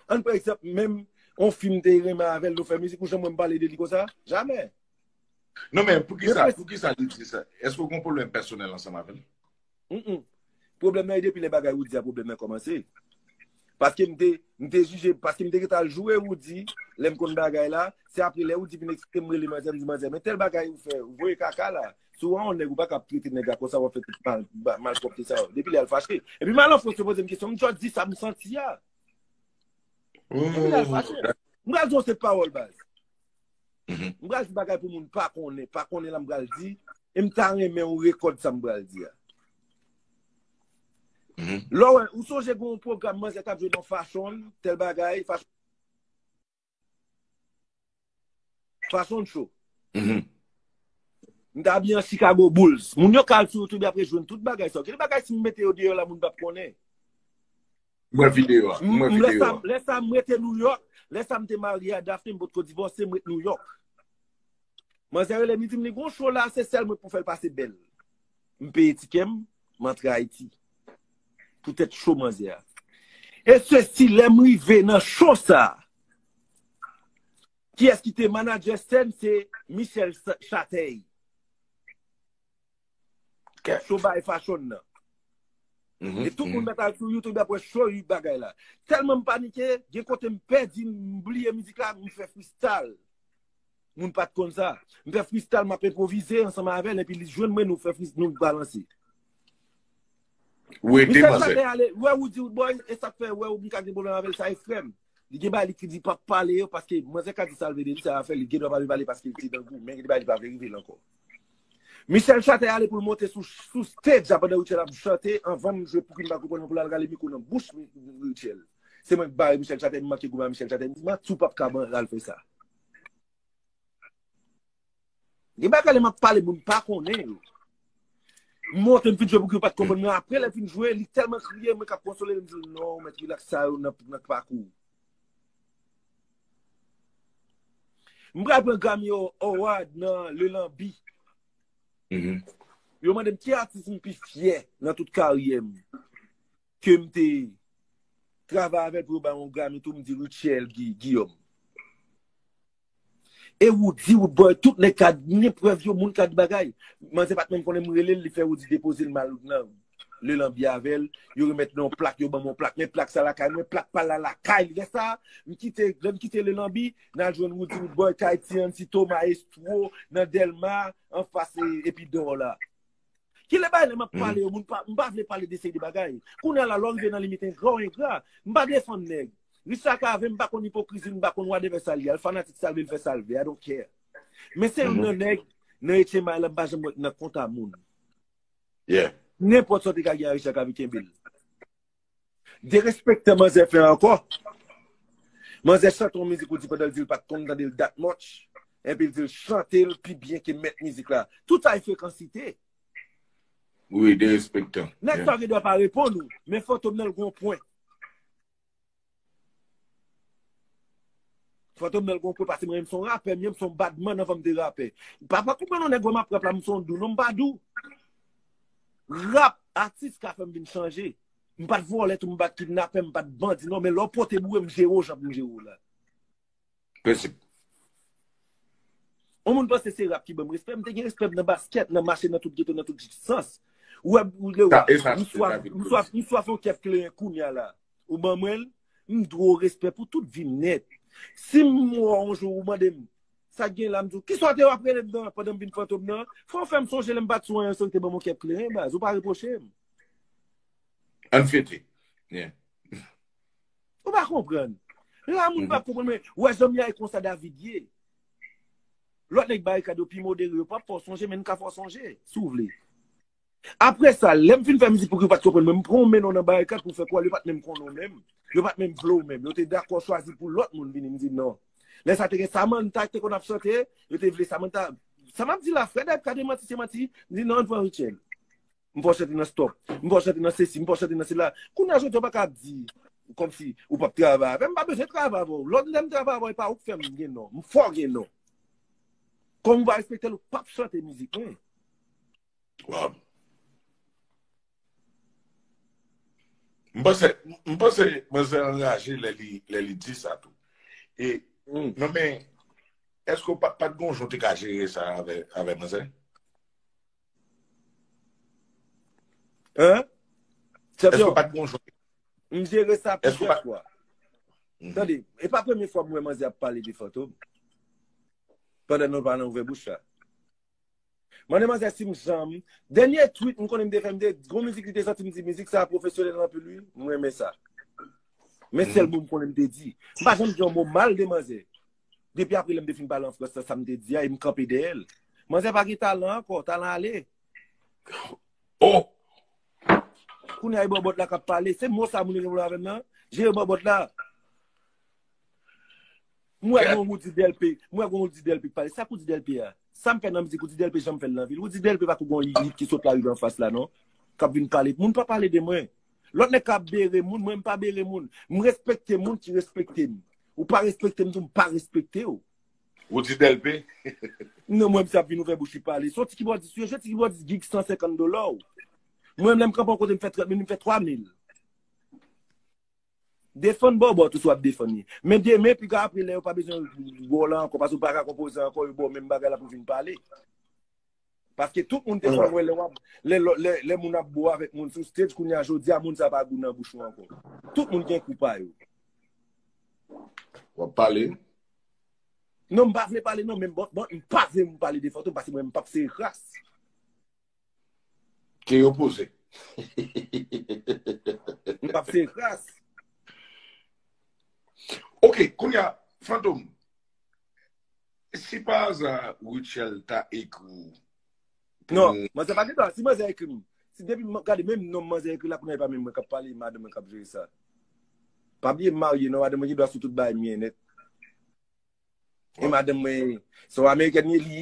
Ann pran egzanp menm yon fi m te renmen avè l nou fè mizik ou janm wè m pale de li konsa? Jamè! Non men poukisa poukisa li di sa? Eske ou gen yon pwoblèm pèsonèl ansanm avè l? Humm. Pwoblèm nan e depi lè bagay Roody a pwoblèm nan kòmanse. Paske m te m te jije paske m te ret al joure Roody lè m konn bagay la, se apre lè Roody fin eksplike m rele manzè m di manzè men tèl bagay ou fè ou voye kaka la. Si w wè yon nèg ou pa ka ap trete nèg la konsa w ap fè tout malpwòpte sa yo. Depi lè a l fache. Epi m al an Frans yo poze m kesyon m tjò di sa m santi a. Depi lè a l fache. M pral di yon seri pawòl baz. M pral di bagay pou moun pa konnen. Pa konnen la m pral di. E m ta renmen ou rekòd sa m pral di a. Lò wè ou sonje gen yon pwogram manzè t ap jwe nan fachon l tèl bagay fachon. Fason cho. Mm-hmm. M ta bi an Chicago Bulls. Moun yo kal sou YouTube apre jwenn tout bagay sa. Ki bagay si m mete yo deyò la moun pap konnen? Mwen video a. Mwen video a. Lè sa m rete New York, lè sa m te marye a Daphne m pot ko divòse m rete New York. Manzè rele m di m li gon show la se sèl mwen pou fè l pase bèl. M peye tikè m, m antre Ayiti. Pou tèt cho manzè a. E se si lè m rive nan cho sa. Ki es ki te manadjè sèn se Michel Chatey. Cho bay fachon nan. Mm-hmm, e tout moun mm-hmm. metal sou youtube apwe show yu bagay la telman m panike gen kote m pedi m bliye mizik la m fè fistal Moun pat konn sa. M fè fristal map enpwovize ansanm avèl epi li jwenn mwen nou fè fris nou balanse. Ou ede Michel manzè. Saben ale, wè ou di woodboy, e sak fè wè ou m ka gen pwoblèm avèl sa e frèm. Li gen bagay li ki di pap pale yo paske manzè ka di sal vle de li sa afèl li gendwa pa vle pale paske li te dan gou men gen de bagay li pa vle rive l ankò. Michel Chatè ale pou l monte sou sou stage la pandan Rutshelle ap chante anvan m jwe pouki m pa konprann mwen pou l al rale mikwo nan bouch Rutshelle. Se mwen k bare Michel Chatè m manke gou ba Michel Chatè m di m aksyon pap ka ban l al fè sa. Gen bagay lè map pale moun pa konnen yo. M monte m fin jwe pou ki yo pat konprann men apre lè fin jwe li tèlman kriye mwen kap konsole l m di l non mèt rilaks sa yo nan k pakou w. M pral pran Grammy Award nan Le Lanbi. Yo mande m ki atis m pi fyè nan tout karyè m. ke m te travay avè l pou yo bay yon Grammy tou m di Rutshelle Guillaume. E Roody, Roodboy, tout nèg ka gen prèv yo, moun ka di bagay. Manzè pa t menm konnen m rele l, li fè Roody depoze l mal nan Le Lambi avè l, yo remèt mwen yon plak, yo ban mwen yon plak, men plak sa lakay mwen, plak pa l la lakay l. Lè sa, m kite, lè m kite Le Lambi, n al jwenn Roody, Roodboy, kay Ti Ansito, Maestro, nan Delma, anfas Epi d'or la. Ki le bay le map pale yo, moun pa, m pa vle pale de sey de bagay. Kounye a la lò rive nan limit engra ou engra, m pa defann nèg. Richard Cavé m pa konn ipokrizi l, m pa konn whatever sa l ye, al fanatik sa l vle l fè sa l vle, I don't care. Men se youn nan nèg nan HMI la m pa janm wè k nan konta moun. Yeah. Nenpòt sa w te ka gen a Richard Cavé kenbe l. Derespektan manzè fè ankò. Manzè chante yon mizik ou di pandan l di l pat konn tande l that much, epi l di l chante l pi byen ke mèt mizik la. Tout sa e frekansite. Wi, derespektan. Nèg sa gen dwa pa reponn ou, men fantom nan l gen yon pwen. Fantom nan gon kwe pase mwen menm son rapè menm son bad man nan fanm de rapè. Papa koupe non nèg wè map rap la m son dou non m pa dou. Rap atis ka fèm vin chanje. M pat vòlè tou m pat kidnapè m pat bandi non men lè w pote boure m jere w jan pou m jere w la. Prensip. On moun panse se rap ki banm respè, mte gen respè nan basket, nan mache nan tout geto, nan tout sans. Ou wè ou lè ou, m swaf, m swaf, m swaf on kèf kleren kounya la. Ou ban mwen l, m dwe ou respè pou tout vi m nèt. Si m wè w on jou ou mande m, sa gen la m di w, kisa w te ap rele m nan pandan m vin fantom nan? Fò w fè m sonje lè m pat sou anyen san w te ban m on kèf kleren baz, ou pa repwoche m. Ann fete. Yeah. Ou pa konprann. La moun pa konprann men, wè zanmi ya e konsa David ye. Lòt nèg barikad yo pi modere, yo pap fè w sonje men n ka fè w sonje, si w vle. Aprè sa, lè m fin fè mizik pou ki yo pat konprann mwen, m pran w mennen w nan barikad pou w fè kwè yo pat menm konnen w menm, yo pat menm vle w menm. Yo te dakò chwazi pou lòt moun vini, m di non. Lè sa te gen Samantha ki te konn ap chante, yo te vle Samantha. Sa m ap di la, frè David ka demanti si se manti, m di non, an n pran Rutshelle. M pa chante nan stop. M pa chante nan sesi, m pa chante nan sela. Kounye a jodi a ou pa ka ap di kòmsi ou pap travay avè m. M pa bezwen travay avè w. Lòt lè m travay avè w e pa ou k fè m gen non. M fè w gen non. Kòm ou pa respekte l ou pap chante mizik mwen. Waww. M panse, m panse manzè an anraje lè li, lè li di sa tou. E, non men, èske ou pa, pat gon jan ou te ka jere sa avè, avè manzè? Hein? Eske Champion, ou pat gon jwè? m jere sa Eske ou plizyè pat fwa. Mhm. Tande, e pa premye fwa m wè manzè ap pale de Fantom. Pandan nou pa nan ouvè bouch la. Mande manzè si m janm, dènye tweet m konnen m te fè, m te gon mizik li te sòti m di mizik sa pwofesyonèl anpil wi, m renmen sa. Men sèl Mhm. mo m konnen m te di. M pa janm di yon mo mal de manzè. Depi apre lèm te fin pale an frans la sam te di a e m kanpe dèyè l. Manzè pa gen talan ankò, talan ale. Oh! Kounye a e bòbòt la kap pale. Se mo sa moun yo gen pou yo avè m nan? Jere bòbòt la. M wè gen yon Roody Delpé, m wè gen yon Roody Delpé k pale. Sa k Roody Delpé a? Sam fè nan mizik Roody Delpé janm fè l nan vi l. Roody Delpé pa kou gen yon hit ki sot lari an fas la non. Kap vin pale. Moun pa pale de mwen. Lòt nèg ka ap bere moun, mwen m pa bere moun. M respekte moun ki respekte m. Ou pa respekte m tou m pa respekte w. Roody Delpé. Non mwen mse ap vin ouvè bouch li pale. Son ti kibòdis ou ye, jwe ti kibòdis gig 150 dola ou. Mwen lèm kanpe yon kote m fè 30 mil, m fè 3 mil. Defann bòbòt ou si w ap defann li. Men demen pi ka apre lè yo pa bezwen wè w la ankò paske ou pa ka konpoze ankò yo ba w menm bagay la pou vin pale. Paske tout moun te konn wè lè wap, lè lò, lè, lè moun ap bo avèk moun sou stage kounye a jodi a moun sa pa gou nan bouch ou ankò. Tout moun gen kou pa yo. Wap pale. Non m pa vle pale non men bon, bon m pa vle m pale de Fantom paske mwen m pap sere kras. Ke yo poze. M pap sere kras. Ok, kounye a, Fantom. Si pa aza Rutshelle ta ekri ou pou Non, nou manzè pa gen dwa. Si manzè ekri m, si depi m gade menm nom manzè ekri la kounye a e pa menm mwen k ap pale, e madanm mwen k ap jere sa. Pa bliye m marye non, madanm mwen gen dwa sou tout bagay m ye nèt. E Wap madanm mwen son amerikèn li ye, li